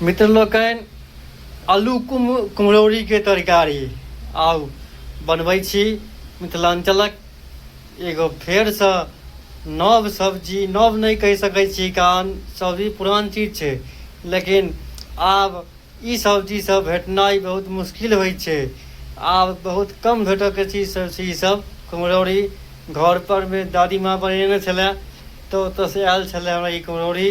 मित्र लोकनि आलू कुम कुम्हरौरीके तरकारी आउ बनबै छी मिथिलाञ्चलक एगो फेरसँ नव सब्जी नव नहि कहि सकै छी कारण सब्जी पुरान चीज छै लेकिन आब ई सब्जीसभ भेटनाइ बहुत मुश्किल होइ छै आब बहुत कम भेटयके चीज सभ छै ईसभ कुम्हरौरी घरपर मे दादीमाँ बनेने छलय तऽ ओतयसँ आयल छलय हमरा ई कुम्हरौरी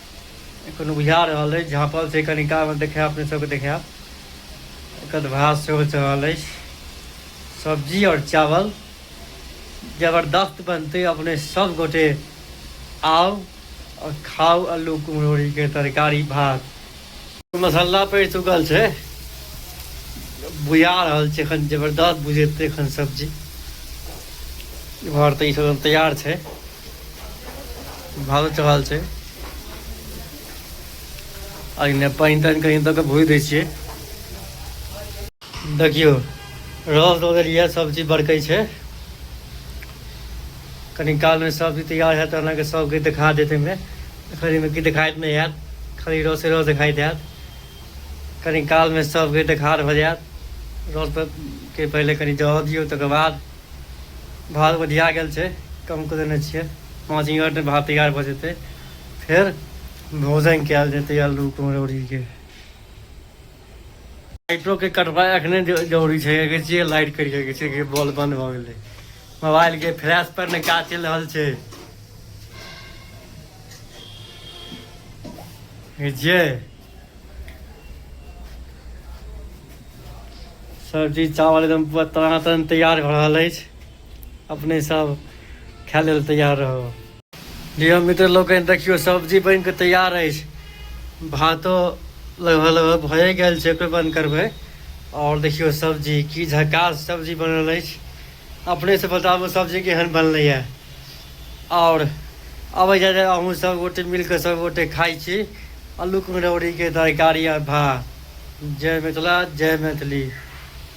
एखन बुझा रहल अछि झाँपल छै कनि कालमे देखायब अपने सबके देखायब एकर भात सेहो चढ़ल अछि सब्जी आओर चावल जबरदस्त बनतै अपने सब गोटे आउ आओर खाउ अल्लू कुम्हरौरीके तरकारी भात मसाला पड़ि चुकल छै बुझा रहल छै एखन जबरदस्त बुझेतै एखन सब्जी घर तऽ ई सब तैयार छै भालो चढ़ल छै एहिमे पानि तानि कहीं दऽ कऽ भूजि दै छियै देखियो रस दो देलिए है सब चीज बड़कै छै कनी काल में सब चीज तैयार है अहाँ के सब के दिखा देते में खरी में की दिखाइत नहीं है खाली रस रस दिखाई देत कनी काल में सब के दिखा हो जात रस के पहले कनी जह दियो तक बाद भात बढ़िया गेल छै कम कर देने छे पाँच मिनट में भात तैयार भ जेते फिर भोजन कल जेते आलू कुमरौरी के लाइटो के कटवा अखने जरूरी छै अगर जे लाइट करि सकै छै कि बॉल बंद भऽ गेलै मोबाइल के फ्लैश पर ने काज चलि रहल छै जे सब्जी चावल एकदम पूरा तनातन तैयार भऽ रहल अछि अपने सब खाय लेल तैयार रहू लियो मित्र लोकनि देखियो सब्जी बनि कऽ तैयार अछि भातो लगभग लगभग भए गेल छै ओकर बंद करबै आओर देखियो सब्जी की झकास सब्जी बनल अछि अपनेसँ बताबू सब्जी केहन बनलैए आओर अबै जाए जाए अहूँ सब गोटे मिल कऽ सब गोटे खाइ छी आलू कुम्हरौड़ीके तरकारी आ भात जय मिथिला जय मैथिली